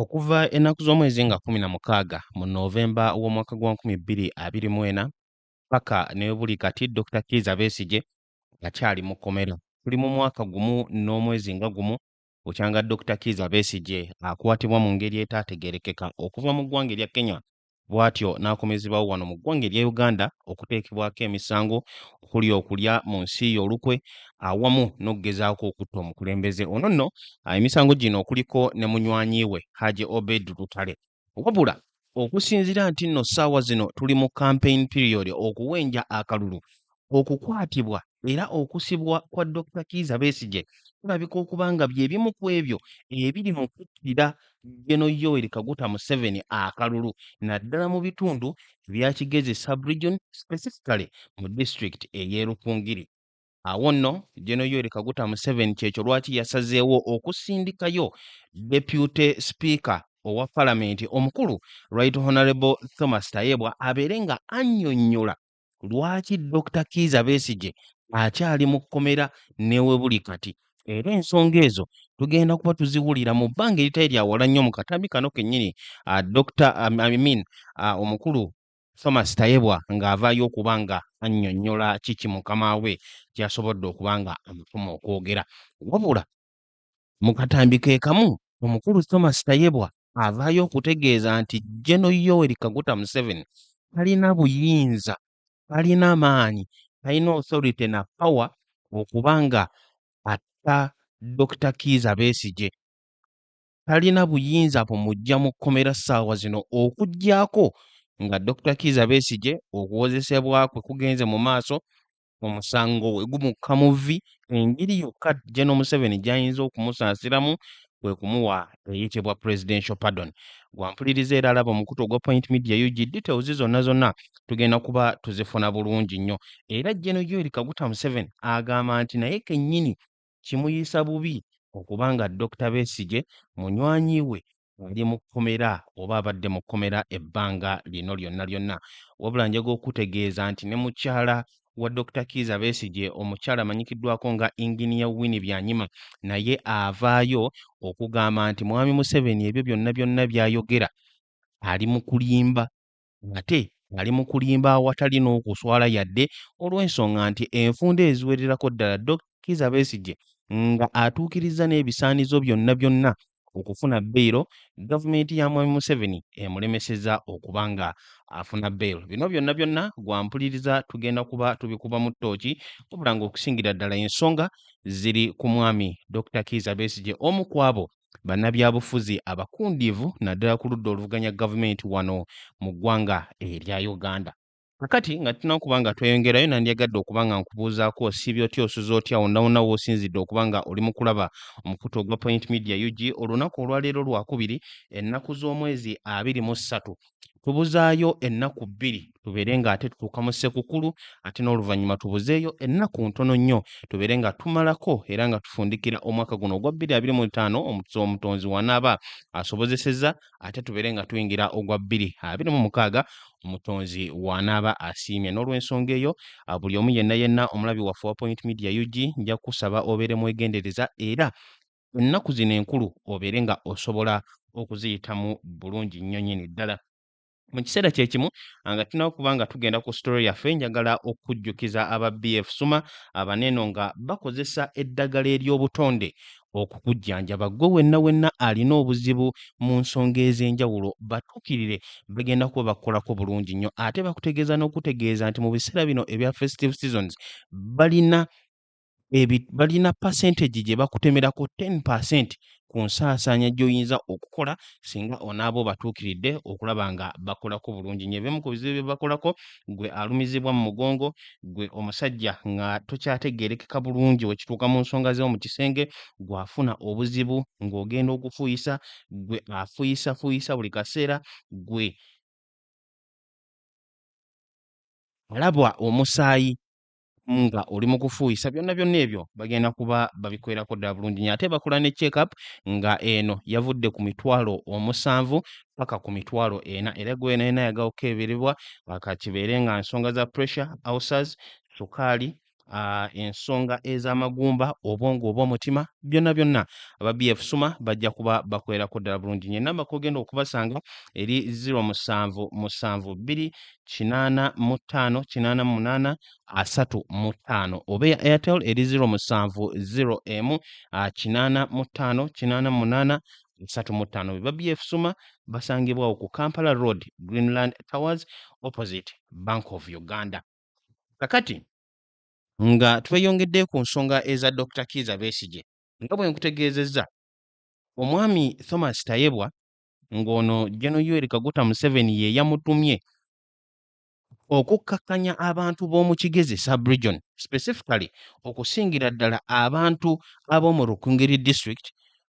Okuva ennaku z'omwezi nga kkumi na mukaaga mu Novemba w'omwaka gwa nkumi bbiri abiri mu ena paka ne buli kati Dokita Kiiza Besigye akyali mu kkomera. Tuli mu mwaka gumu n'omwezi nga gumu bukyanga Dokita Kiiza Besigye akwatibwa mu ngeri etaategeerekeka okuva mu ggwanga erya Kenya bw'atyo n'akomezebawo wano mu ggwanga erya Uganda okuteekebwako emisango okuli okulya mu nsi ye olukwe awamu n'okugezaako okutta omukulembeze ono nno emisango gino okuliko ne munywanyi we Haji Obed Lutale Wabula okusinzira nti nno ssaawa zino tuli mu campaign period okuwenja akalulu okukwatibwa era okusibwa kwa Dokita Kiiza Besigye kulabika okuba nga bye bimu ku ebyo ebiri mu kuttira Geno Yoweri Kaguta Museveni akalulu naddala mu bitundu ebya Kigezi sub-region specifically mu disitulikiti ey'e Rukungiri. Awo nno General Yoweri Kaguta Museveni kyekyo lwaki yasazeewo okusindikayo Deputy Speaker owa Palamenti omukulu Right Honorable Thomas Tayebwa abeere nga annyonnyola lwaki Dokita Kiiza Besigye akyali mu kkomera newebuli kati era ensonga ezo tugenda kuba tuziwulira mu bbanga eritali lya wala nnyo mu katambi kano kennyini Dokita Amin omukulu Thomas Tayebwa ng'avaayo okuba nga annyonnyola kiki mukama we kyasobodde okuba nga amutuma okwogera. Wabula mu katambi ke kamu omukulu Thomas Tayebwa avaayo okutegeeza nti Jeno Yoweri Kaguta Museveni talina buyinza, talina maanyi, talina authority na power okuba nga atta Dokita Kiiza Besigye talina buyinza bumuggya mu kkomera ssaawa zino okuggyako nga Dokita Kiiza Besigye okuwozesebwa kwe kugenze mu maaso omusango we gumukka mu vvi engeri yokka General Museveni gy'ayinza okumusaasiramu kwe kumuwa eyitibwa presidential pardon gwampuliriza era alaba omukutu ogwa point media ug details zonna zonna tugenda kuba tuzifuna bulungi nnyo era General Yoweri Kaguta Museveni agamba nti naye kennyini kimuyisa bubi okuba nga Dokita Besigye munywanyi we ali mu kkomera oba abadde mu kkomera ebbanga lino lyonna lyonna wabula njaga okutegeeza nti ne mukyala wa Dokita Kiiza Besigye omukyala amanyikiddwako nga Inginiya Winnie Byanyima naye avaayo okugamba nti Mwami Museveni ebyo byonna byonna by'ayogera ali mu kulimba ng'ate ng'ali mu kulimba awatali n'okuswala yadde olw'ensonga nti enfunda eziwererako ddala Dok. Kizza Besigye nga atuukirizza n'ebisaanizo byonna byonna okufuna beyiro, gavumenti ya Mwami Museveni emulemesezza okuba nga afuna beyiro. Bino byonna byonna gwa mpuliriza tugenda kuba tubikubamu ttooki wabula ng'okusingira ddala ensonga ziri ku mwami Dokita Kizza Besigye omu ku abo bannabyabufuzi abakundiivu naddala ku ludda oluvuganya gavumenti wano mu ggwanga erya Uganda. Kakati nga tunakuba nga tweyongerayo nandyagadde okuba nga nkubuuzaako osiibye otya osuze otya wonawona woosinzidde okuba nga oli mu kulaba omukutu ogwa Point Media UG olunaku olwaleero lwakubiri ennaku z'omwezi abiri mu ssatu tubuzaayo ennaku bbiri tubeere nga ate tutuuka mu ssekukulu ate n'oluvannyuma tubuzeeyo ennaku ntono nnyo tubeere nga tumalako era nga tufundikira omwaka guno ogwa bbiri abiri mu ttaano omutuzi omutonzi wanaaba asobozeseza ate tubeere nga tuyingira ogwa bbiri abiri mu mukaaga omutonzi wanaaba asiimye n'olwensonga eyo buli omu yenna yenna omulabi waffe wa point media ug nja kukusaba obeere mwegendereza era ennaku zino enkulu obeere nga osobola okuziyitamu bulungi nnyo nyini ddala mu kiseera kye kimu nga tulina okuba nga tugenda ku sitole yaffe njagala okujjukiza aba bf suma abaneno nga bakozesa eddagala ery'obutonde okukujjanjaba ggwe wenna wenna alina obuzibu mu nsonga ez'enjawulo batuukirire bagenda kuba bakukolako bulungi nnyo ate bakutegeeza n'okutegeeza nti mu biseera bino ebya festive seasons balina balina percentage gye bakutemerako 10 percent ku nsaasaanya gy'oyinza okukola singa onaaba obatuukiridde okulaba nga bakolako bulungi nyo ebimu ku bizibu bye bakolako gwe alumizibwa mu mugongo gwe omusajja nga tokyategeerekeka bulungi wekituuka mu nsonga z'omu kisenge gw'afuna obuzibu ng'ogenda okufuuyisa gwe afuuyisafuuyisa buli kaseera gwe alabwa omusaayi nga oli mu kufuuyisa byonna byonna ebyo bagenda kuba babikwerako ddala bulungi nyo ate bakola ne checkup nga eno yavudde ku mitwalo omusanvu paka ku mitwalo ena era gwenaena yagala okukeberebwa akakibeere nga nsonga za pressure ulcers sukaali uh, ensonga ez'amagumba obwongo oba omutima byonna byonna aba bf suma bajja kuba bakwerako ddala bulungi nyo enamba kogenda okubasanga eri 07 musanvu bbiri kinaana mu ttaano kinaana mu munaana asatu mu ttaano oba eya airtel eri ziro musanvu ziro emu kinaana mu ttaano kinaana mu munaana asatu mu ttaano be babyefusuma basangibwawo ku kampala road greenland towers opposite bank of uganda kakati nga tweyongedde ku nsonga eza dr kiiza besigye nga bwe nkutegeezezza omwami thomas tayebwa ng'ono Gen Yoweri Kaguta Museveni ye yamutumye okukkakkanya abantu b'omu Kigezi sub-region specifically okusingira ddala abantu ab'omu Rukungiri district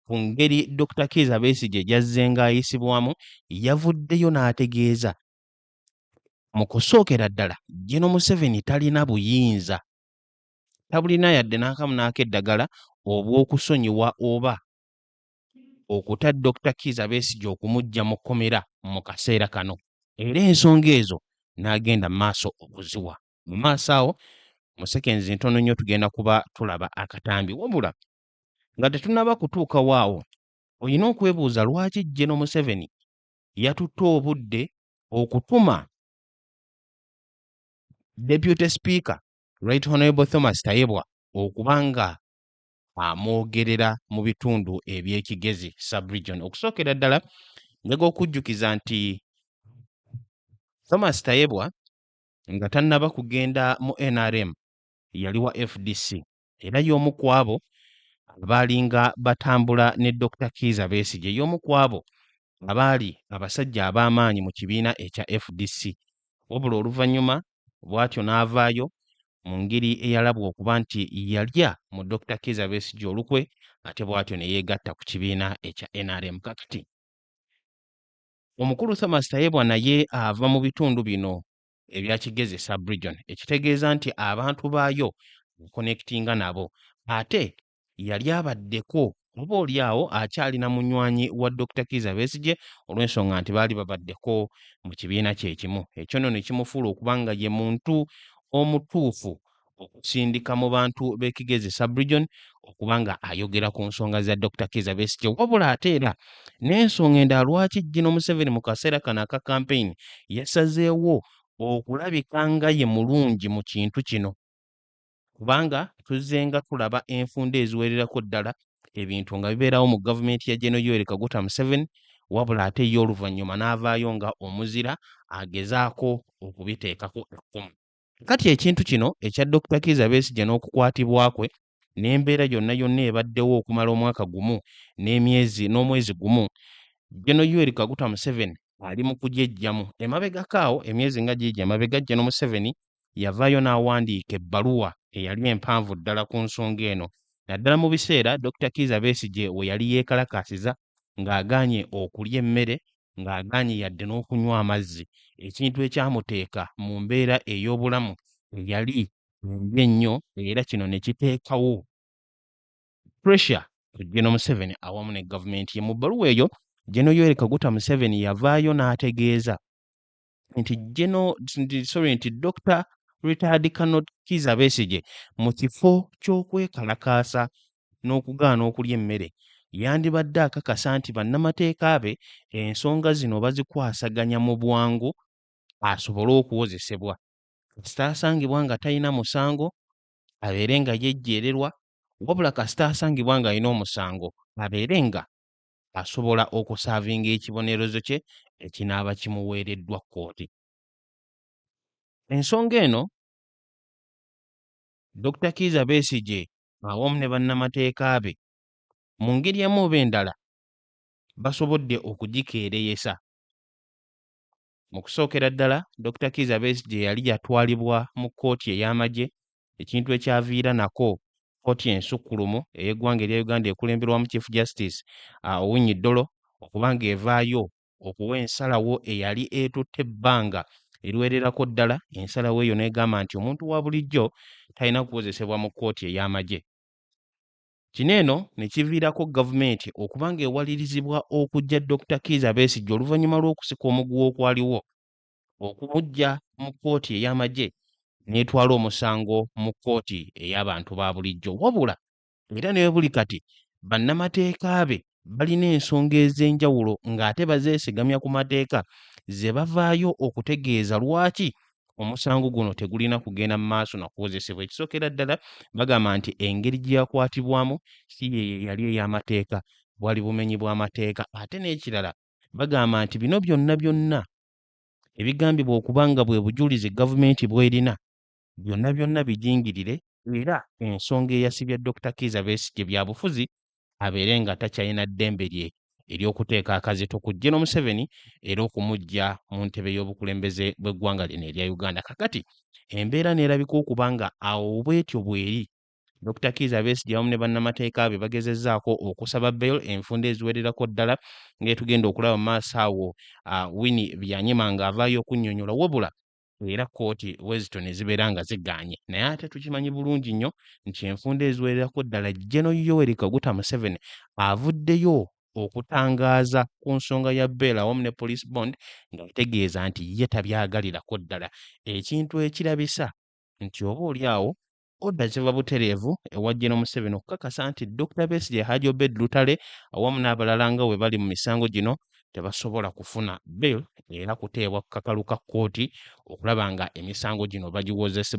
ku ngeri Dr Kiiza Besigye gy'azzenga ayisibwamu yavuddeyo n'ategeeza mu kusookera ddala Gen Museveni talina buyinza tabulina yadde n'akamu n'akeddagala obw'okusonyiwa oba okuta Dokita Kiiza Besigye okumuggya mu kkomera mu kaseera kano era ensonga ezo n'agenda mu maaso okuziwa mu maaso awo mu sekenzi ntono nnyo tugenda kuba tulaba akatambi wabula nga tetunaba kutuuka waawo olina okwebuuza lwaki Geno Museveni yatutte obudde okutuma Deputy Speaker Right Honorable Thomas Tayebwa okuba nga amwogerera mu bitundu eby'ekigezi subregion okusookera ddala njega okujjukiza nti thomas tayebwa nga tannaba kugenda mu nrm yali wa fdc era y'omu ku abo abaalinga batambula ne dr kiiza besigye y'omu ku abo abaali abasajja ab'amaanyi mu kibiina ekya fdc wabula oluvannyuma bw'atyo n'avaayo mu ngeri eyalabwa okuba nti yalya mu Dokita Kiiza Besigye olukwe ate bw'atyo ne yeegatta ku kibiina ekya nrm kakati. Omukulu Thomas Tayebwa naye ava mu bitundu bino ebya Kigezi sub-region ekitegeeza nti abantu baayo akonekitinga nabo ate yali abaddeko oba oli awo akyalina munywanyi wa Dokita Kiiza Besigye olw'ensonga nti baali babaddeko mu kibiina kyekimu. Ekyo nno ne kimufuula okuba nga ye muntu omutuufu okusindika mu bantu b'e Kigezi Sub-Region okuba nga ayogera ku nsonga za Dokita Kiiza Besigye. Wabula ate era n'ensonga endala lwaki Jino Museveni mu kaseera kano aka kampeyini yasazeewo okulabika nga ye mulungi mu kintu kino. kubanga tuzzenga tulaba enfunda eziwererako ddala ebintu nga bibeerawo mu gavumenti ya General Yoweri Kaguta Museveni wabula ate ye oluvannyuma n'avaayo nga omuzira agezaako okubiteekako ekkumu. Kati ekintu kino ekya Dokita Kiiza Besigye n'okukwatibwa kwe n'embeera yonna yonna ebaddewo okumala omwaka gumu n'emyezi n'omwezi gumu Gen. Yoweri Kaguta Museveni ali mu kugyejjamu emabegako awo emyezi nga giigi emabega Gen. Museveni yavaayo n'awandiika ebbaluwa eyali empanvu ddala ku nsonga eno naddala mu biseera Dokita Kiiza Besigye we yali yeekalakaasiza ng'agaanye okulya emmere ng'agaanye yadde n'okunywa amazzi ekintu ekyamuteeka mu mbeera ey'obulamu eyali mbi ennyo era kino ne kiteekawo pressure ku Gen Museveni awamu ne gavumenti ye. Mu bbaluwa eyo Gen Yoweri Kaguta Museveni yavaayo n'ategeeza nti geno sorry nti dr retired canot kiza besigye mu kifo ky'okwekalakaasa n'okugaana okulya emmere yandibadde akakasa nti bannamateeka be ensonga zino bazikwasaganya mu bwangu asobole okuwozesebwa kasita asangibwa nga talina musango abeere nga yejjeererwa wabula kasita asangibwa ng'alina omusango abeere nga asobola okusaavinga ekibonerezo kye ekinaaba kimuweereddwa kkooti. Ensonga eno Dokita Kiiza Besigye awamu ne bannamateeka be mu ngeri emu oba endala basobodde okugikeereyesa. Mu kusookera ddala Dokita Kiiza Besigye yali yatwalibwa mu kkooti ey'amagye ekintu ekyaviira nako kkooti ensukkulumu ey'eggwanga erya Uganda ekulemberwamu Chief Justice uh, Owiny Dollo okuba ng'evaayo okuwa ensalawo eyali etutte ebbanga eriwererako ddala ensalawo eyo n'egamba nti omuntu wa bulijjo talina kuwozesebwa mu kkooti ey'amagye kino eno ne kiviirako gavumenti okuba ng'ewalirizibwa okujja Dr Kiiza Besigye oluvannyuma lw'okusika omuguwa okwaliwo okumuggya mu kkooti ey'amagye n'etwala omusango mu kkooti ey'abantu ba bulijjo wabula era ne buli kati bannamateeka be balina ensonga ez'enjawulo ng'ate bazeesigamya ku mateeka ze bavaayo okutegeeza lwaki omusango guno tegulina kugenda mu maaso na kuwozesebwa ekisookera ddala bagamba nti engeri gye yakwatibwamu si ye yali ey'amateeka bwali bumenyi bw'amateeka ate n'ekirala bagamba nti bino byonna byonna ebigambibwa okuba nga bwe bujulizi gavumenti bwerina byonna byonna bijingirire era ensonga eyasibya Dokita Kiiza Besigye byabufuzi abeere nga takyalina ddembe lye ery'okuteeka akazito ku Gen Museveni era okumuggya mu ntebe y'obukulembeze bw'eggwanga lino erya Uganda. Kakati embeera neerabika okuba nga awo bwetyo bweri Dokita Kiiza Besigye awamu ne bannamateeka be bagezezzaako okusaba bail enfunda eziwererako ddala ng'etugenda okulaba maaso awo Winnie Byanyima ng'avaayo okunnyonnyola wabula era kkooti bwe zityo ne zibeera nga zigaanye naye ate tukimanyi bulungi nnyo nti enfunda eziwererako ddala Geno Yoweri Kaguta Museveni avuddeyo okutangaaza ku nsonga ya bail awamu ne police bond ng'ategeeza nti ye tabyagalirako ddala ekintu ekirabisa nti oba oli awo Oda ziva butereevu ewa Gen Museveni okukakasa nti Dokita Besigye, Haji Obed Lutale awamu n'abalala nga bwe bali mu misango gino tebasobola kufuna bail era kuteebwa ku kakalu ka kkooti okulaba nga emisango gino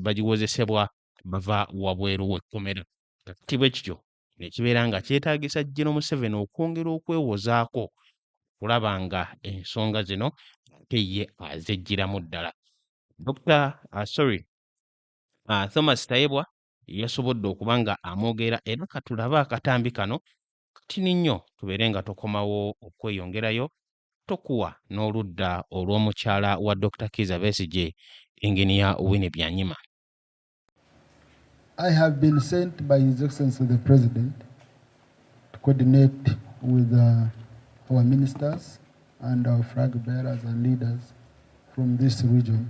bagiwozesebwa bava wabweru w'ekkomera. Kati bwe kityo ne kibeera nga kyetaagisa Gen Museveni okwongera okwewozaako okulaba nga ensonga zino ate ye azeggyiramu ddala. Dokita uh, sorry uh, Thomas Tayebwa yasobodde okuba nga amwogera era katulabe akatambi kano katini nnyo tubeere nga tokomawo okweyongerayo tokuwa n'oludda olw'omukyala wa Dr. Kiza Besigye Engineer Winnie Byanyima I have been sent by His Excellency the President to coordinate with uh, our ministers and our flag bearers and leaders from this region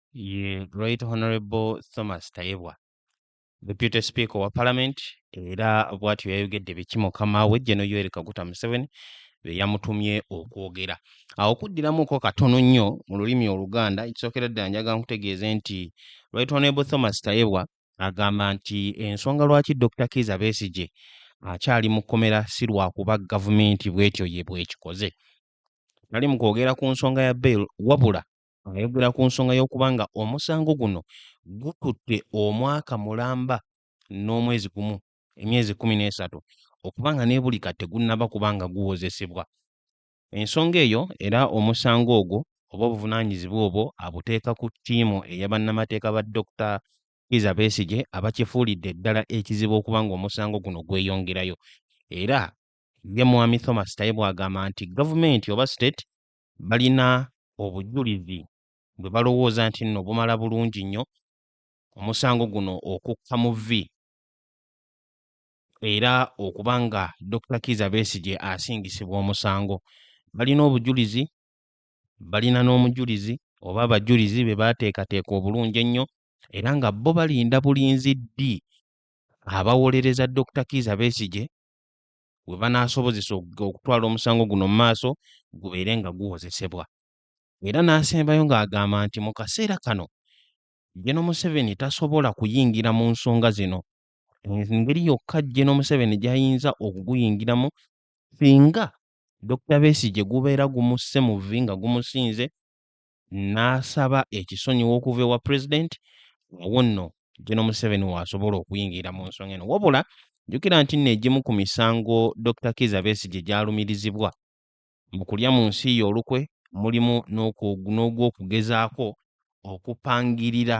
ye Right Honorable Thomas Tayebwa Deputy Speaker wa Parliament era bwatyo yayogedde biki mukama we Gen Yoweri Kaguta Museveni be yamutumye okwogera. Awo kuddiramuko katono nnyo mu lulimi Oluganda ekisookera ddala njaga nkutegeeze nti Right Honorable Thomas Tayebwa agamba nti ensonga lwaki Dr. Kiiza Besigye akyali mu kkomera si lwakuba gavumenti bwetyo ye bwekikoze. Tali mu kwogera ku nsonga ya bail wabula Ayogera ku nsonga y'okuba nga omusango guno gututte omwaka mulamba n'omwezi gumu emyezi kumi n'esatu okuba nga nebuli kati tegunnaba kuba nga guwozesebwa. Ensonga eyo era omusango ogwo oba obuvunaanyizibwa obwo abuteeka ku ttiimu eya bannamateeka ba Dokita Kizza Besigye abakifuulidde ddala ekizibu okuba ng'omusango guno gweyongerayo era ye Mwami Thomas Tayebwa agamba nti gavumenti oba state balina obujulizi bwe balowooza nti nno bumala bulungi nnyo omusango guno okukka mu vvi era okuba nga Dokita Kiiza Besigye asingisibwa omusango balina obujulizi balina n'omujulizi oba abajulizi be baateekateeka obulungi ennyo era nga bo balinda bulinzi ddi abawolereza Dokita Kiiza Besigye we banaasobozesa okutwala omusango guno mu maaso gubeere nga guwozesebwa. Era n'asembayo ng'agamba nti mu kaseera kano Gen. Museveni tasobola kuyingira mu nsonga zino. Engeri yokka Gen. Museveni gy'ayinza okuguyingiramu singa Dokita Besigye gubeera gumusse mu vvi nga gumusinze n'asaba ekisonyiwo okuva ewa pulezidenti awo nno Geno Museveni w'asobola okuyingira mu nsonga eno wabula jjukira nti nno egimu ku misango Dokita Kiiza Besigye gyalumirizibwa mu kulya mu nsi ye olukwe mulimu n'ogw'okugezaako okupangirira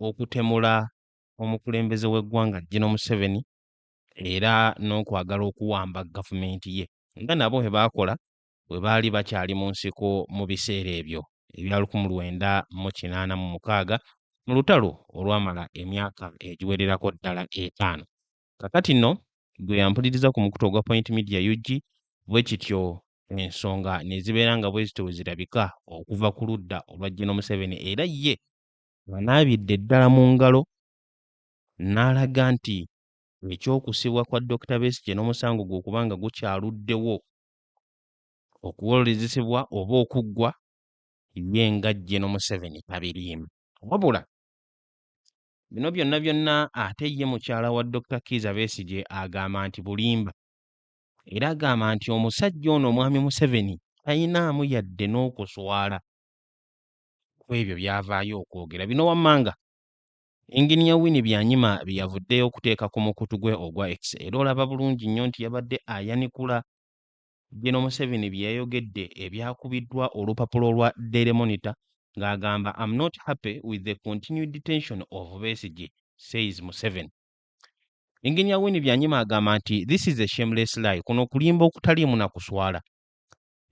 okutemula omukulembeze w'eggwanga Geno Museveni era n'okwagala okuwamba gavumenti ye nga nabo bwe baakola bwe baali bakyali mu nsiko mu biseera ebyo ebya lukumi lwenda mu kinaana mu mukaaga mu lutalo olwamala emyaka egiwererako ddala etaano. Kakati nno gwe yampuliriza ku mukutu ogwa Point Media UG bwe kityo ensonga ne zibeera nga bwe zityo bwe zirabika okuva ku ludda olwa Gino Museveni era ye banaabidde ddala mu ngalo n'alaga nti eky'okusibwa kwa Dokita Besigye n'omusango gwe okuba nga gukyaluddewo okuwolezesebwa oba okuggwa ye nga Geno Museveni tabiriimu. Wabula bino byonna byonna ate ye mukyala wa Dokita Kiiza Besigye agamba nti bulimba era agamba nti omusajja ono omwami Museveni talinaamu yadde n'okuswala ku ebyo byavaayo okwogera. Bino wammanga Yinginiya Winnie Byanyima bye yavuddeyo okuteeka ku mukutu gwe ogwa X era olaba bulungi nnyo nti yabadde ayanikula Gen Museveni bye yayogedde ebyakubiddwa olupapula olwa Daily Monitor ng'agamba am not happy with the continued detention of Besigye, says Museveni. Yinginiya Winnie Byanyima agamba nti this is a shameless lie, kuno kulimba okutaliimu na kuswala.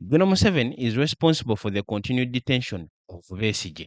Gen Museveni is responsible for the continued detention of Besigye.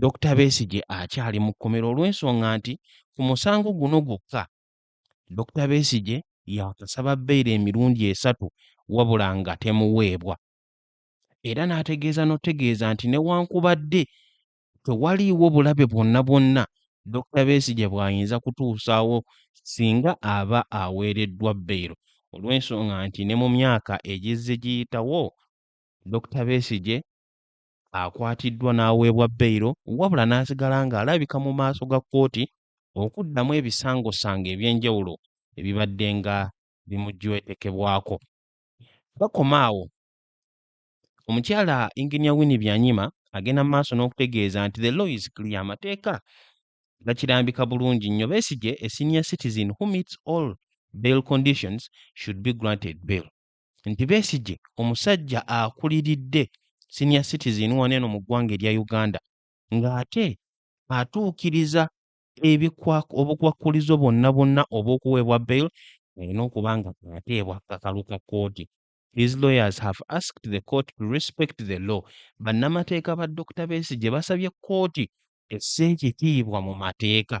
Dokita Besigye akyali mu kkomera olw'ensonga nti ku musango guno gwokka Dokita Besigye yakasaba bbeere emirundi esatu wabula nga temuweebwa era n'ategeeza n'otegeeza nti newankubadde tewaliiwo bulabe bwonna bwonna Dokita Besigye bw'ayinza kutuusaawo singa aba aweereddwa bbeero olw'ensonga nti ne mu myaka egizze giyitawo Dokita Besigye akwatiddwa n'aweebwa beyiro wabula n'asigala ng'alabika mu maaso ga kkooti okuddamu ebisangosanga eby'enjawulo ebibadde nga bimujwetekebwako. Bakoma awo omukyala Engineer Winnie Byanyima agenda mu maaso n'okutegeeza nti the law is clear amateeka gakirambika bulungi nnyo Besigye a senior citizen who meets all bail conditions should be granted bail. nti Besigye omusajja akuliridde senior citizen wano eno mu ggwanga erya Uganda ng'ate atuukiriza obukwakkulizo bwonna bwonna obw'okuweebwa bail alina okuba nga ateebwa kakalu ka kkooti. His lawyers have asked the court to respect the law. Bannamateeka ba Dokita Besigye basabye kkooti esse ekitiibwa mu mateeka.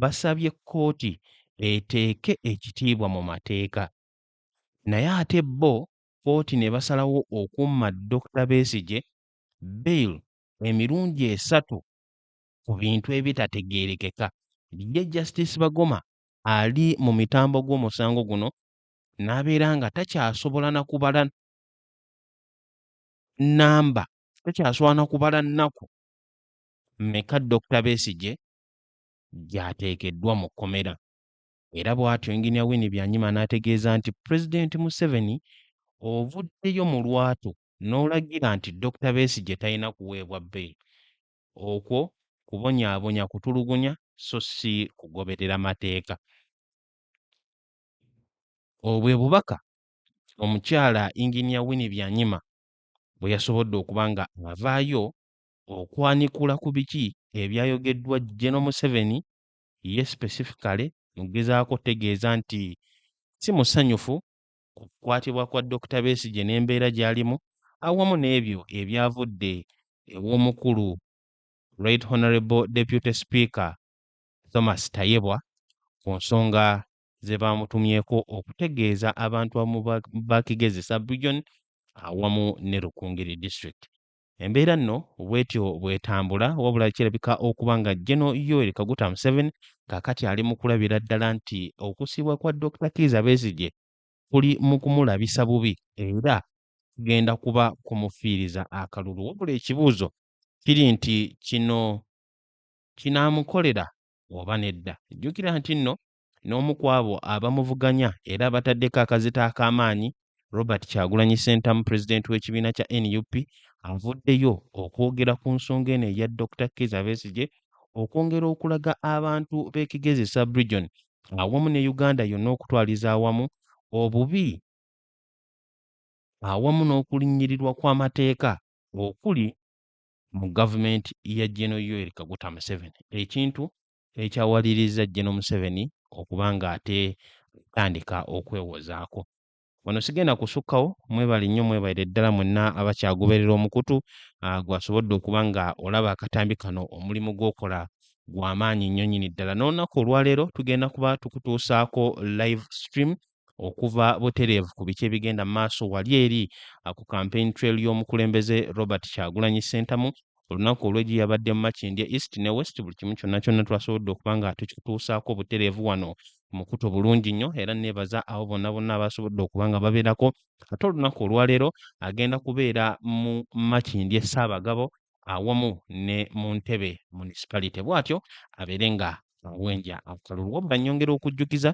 basabye kkooti eteeke ekitiibwa mu mateeka naye ate bo kkooti ne basalawo okumma Dokita Besigye bail emirundi esatu ku bintu ebitategeerekeka. Ye Justice Bagoma ali mu mitambo gw'omusango guno n'abeera nga takyasobola na kubala nnamba takyasobola na kubala nnaku mmeka Dokita Besigye gy'ateekeddwa mu kkomera era bw'atyo Engineer Winnie Byanyima n'ategeeza nti Pulezidenti Museveni ovuddeyo mu lwatu n'olagira nti Dokita Besigye talina kuweebwa bbeyi okwo kubonyaabonya kutulugunya so si kugoberera mateeka. Obwe bubaka omukyala Engineer Winnie Byanyima bwe yasobodde okuba nga avaayo okwanikula ku biki ebyayogeddwa General Museveni ye specifically mu kugezaako okutegeeza nti si musanyufu ku kukwatibwa kwa Dokita Besigye n'embeera gy'alimu awamu n'ebyo ebyavudde ew'omukulu Right Honourable Deputy Speaker Thomas Tayebwa ku nsonga ze baamutumyeko okutegeeza abantu abamu ba Kigezi Sub-Region awamu ne Rukungiri District. Embeera nno bwetyo bwetambula wabula kirabika okuba nga Geno Yoweri Kaguta Museveni kakati ali mu kulabira ddala nti okusiibwa kwa Dokita Kiiza Besigye kuli mu kumulabisa bubi era kugenda kuba kumufiiriza akalulu wabula ekibuuzo kiri nti kino kinaamukolera oba nedda. Jjukira nti nno n'omu ku abo abamuvuganya era abataddeko akazito ak'amaanyi Robert Kyagulanyi Ssentamu pulezidenti w'ekibiina kya nup avuddeyo okwogera ku nsonga eno eya Dr Kizza Besigye okwongera okulaga abantu b'e Kigezi sub-region awamu ne Uganda yonna okutwaliza awamu obubi awamu n'okulinnyirirwa kw'amateeka okuli mu gavumenti ya Gen. Yoweri Kaguta Museveni ekintu ekyawalirizza General Museveni okuba ng'ate atandika okwewozaako. Wano sigenda kusukkawo, mwebale nnyo mwebalire ddala mwenna abakyagoberera omukutu ah, gwasobodde okuba nga olaba akatambi kano omulimu gw'okola gwa maanyi nnyo nnyini ddala. N'olunaku olwaleero tugenda kuba tukutuusaako live stream okuva butereevu ku biki ebigenda mu maaso wali eri ah, ku campaign trail y'omukulembeze Robert Kyagulanyi Ssentamu olunaku olw'egyo yabadde mu Makindye East ne West buli kimu kyonna kyonna twasobodde okuba nga tukituusaako butereevu wano mukuto bulungi nnyo era neebaza abo bonna bonna abasobodde okuba nga babeerako ate olunaku olwaleero agenda kubeera mu Makindye Ssaabagabo awamu ne mu Ntebe municipality bw'atyo abeere nga awenja akalulu wabula nyongera okujjukiza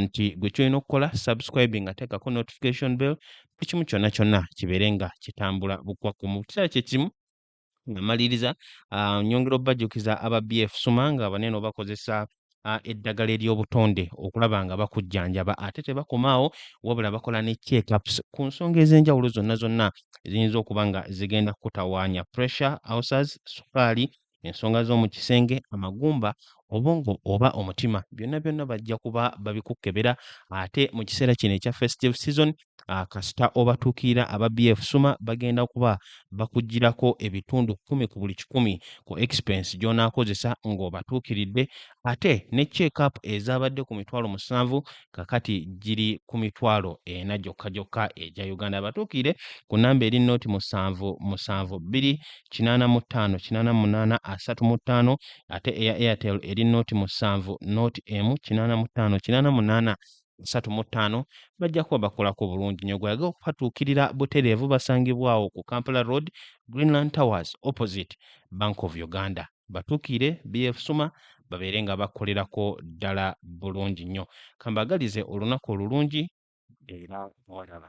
nti gwe kyolina okukola subscribe nga teekako notification bell buli kimu kyonna kyonna kibeere nga kitambula bukwakku mu kiseera kyekimu nga maliriza ah, nyongera obajjukiza aba bf suma nga banene obakozesa eddagala ery'obutonde okulaba nga bakujjanjaba ate tebakomaawo wabula bakola ne checkups ku nsonga ez'enjawulo zonna zonna eziyinza okuba nga zigenda kukutawaanya pressure ulcers sukaali ensonga z'omu kisenge amagumba obwongo oba omutima byonna byonna bajja kuba babikukkebera ate mu kiseera kino ekya festive season Ah, kasita obatuukirira aba BF Suma bagenda kuba bakugirako ebitundu kumi ku buli kikumi ku expense gy'onaakozesa ng'obatuukiridde ate ne check-up ezaabadde ku mitwalo musanvu kakati giri ku mitwalo ena gyokka gyokka egya Uganda. Abatuukirire ku nnamba eri noti musanvu musanvu bbiri kinaana mu ttaano kinaana munaana asatu mu ttaano ate eya Airtel eri noti musanvu noti emu kinaana mu ttaano kinaana munaana basatu mu ttaano bajja kuba bakolako bulungi nyo gweyagala okupatuukirira butereevu basangibwawo ku Kampala Road Greenland Towers opposite Bank of Uganda batuukire BF Suma babeere nga bakolerako ddala bulungi nnyo kambagalize olunaku olulungi era mwalaba